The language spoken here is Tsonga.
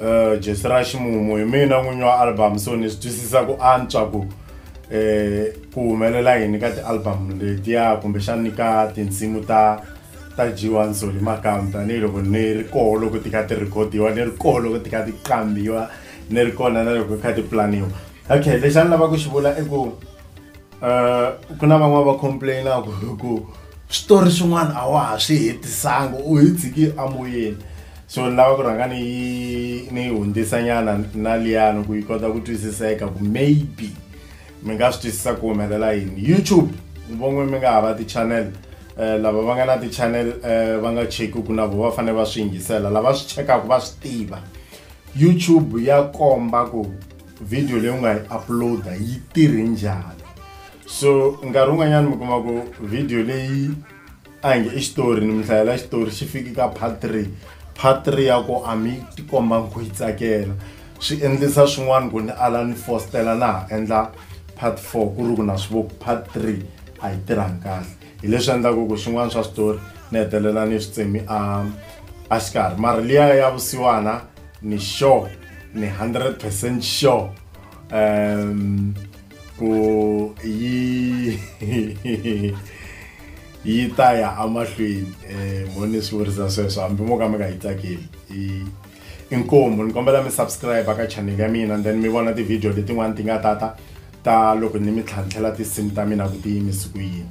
Uh, Jesi ra ximumu hi mina n'winyi wa album so ni swi twisisa ku antswa ku eh ku humelela yini ka ti-album letiya kumbexana ni ka tinsimu ta ta G1 Soli Makamu tanihiloko ni ri koho loko ti kha ti rhikhodiwa ni ri koho loko ti kha ti qambiwa ni ri kona na loko ti kha ti pulaniwa okay lexi a ni lava ku xi vula i ku Eh, ku na van'wana va complainaka hi ku switori swin'wana a wa ha swi hetisanga u hi tshiki amoyeni so ni lava ku rhanga ni yi ni yi hundzisanyana na liyani ku yi kota ku twisiseka ku maybe mi nga swi twisisa ku humelela yini youtube von'we mi nga ha va ti-channel um lava va nga na ti-channel um va nga cheki ku na vo va fanele va swi yingisela lava swi chekaka va swi tiva youtube ya komba ku video leyi u nga yi uploada yi tirhe njhani so nkarhi wun'wanyana mi kuma ku video leyi a nge i xitori ni mi hlayela xitori xi fiki ka part three part three ya ku a mi tikomba ku yi tsakela swi endlisa swin'wana ku ni ala ni fostela na ha endla part four ku ri ku na swi vo part three a yi tirhangi kahle hi leswi endlaku ku swin'wana swa switori ni hetelela ni swi tsemi a a xikarhi mara liya ya vusiwana ni sure ni 100 percent sure um ku yi yi ta ya amahlweni um mo ni swi vurisa sweswo hambi mo ka mi nga yi tsakeli inkomu ni kombela mi subscribe ka channel ya mina then mi vona ti-video letin'wani ti nga tata ta loko ni mi tlhantlhela tinsimu ta mina ku ti yimisi ku yini